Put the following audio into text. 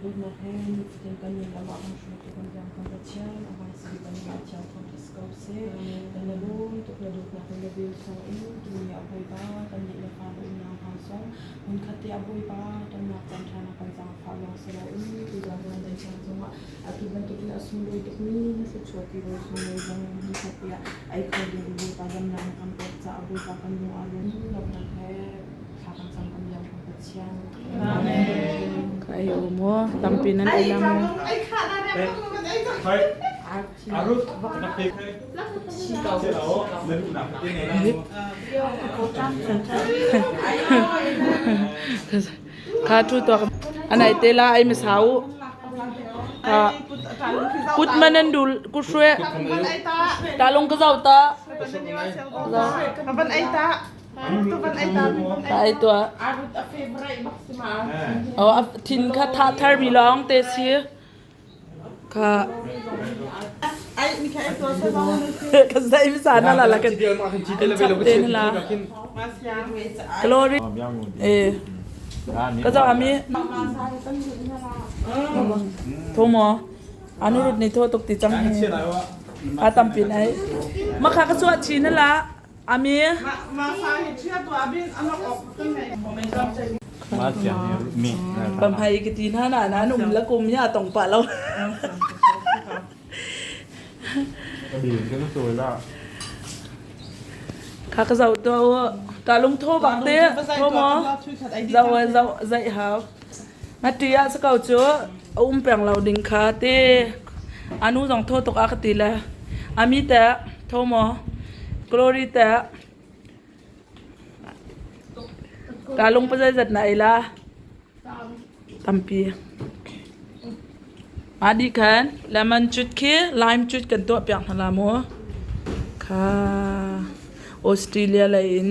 Dawtnak he cutin kan nun lam ah kan hruaitu kan biaknak le thiam a van si bang in thiam phot is ko seh. Kan na lawm tuk na dawtnak le na bil thawng in tuni ah Bawipa kan nih le fa na unau hna zong hmunkhat te ah Bawipa tonnak caan ṭha na kan zaangfah lawng si loin tu zaangfah na thiam zongah atu bantuk in a sunglawi tukmi na thluachuahpi ro sunglawi zong in hmunkhat te ah ei kho ding Bawipa damnak na kan pek caah Bawipa kan lung aa lawm. Dawtnak he Ka ei um maw? Tampi nan ei lang maw? Kha thu tok. Anai tela ai ma sau. Ha. Kut manan dul kushwe. Talung ka zau ta. Ban ai ta. Ka ei tuah. Oh, a thin kha thah thar mi lawng te si. Ka ka zai mi sa na la la ka te na la. Glory. Eh. Ka zo ami. Thomo. Anu rut ni tho tuk ti chang. A tam pin ai. Makha ka suwa chi na la. Amen. Pamhai ka ti hna na na num la kum ya tong pa lo. Kha ka zau to ka lung tho bang te tho mo zau zau zai hao Na ṭih ah si ko cu a um peng lo ding kha a ti. A nu zong thaw tuk a ka ti le a mi teh tho maw Glory teh kaa lung pa zeizat na ei la tampi mah dih khan lemon cut khi lime cut kan tuah piak hna la maw kha Australia lei in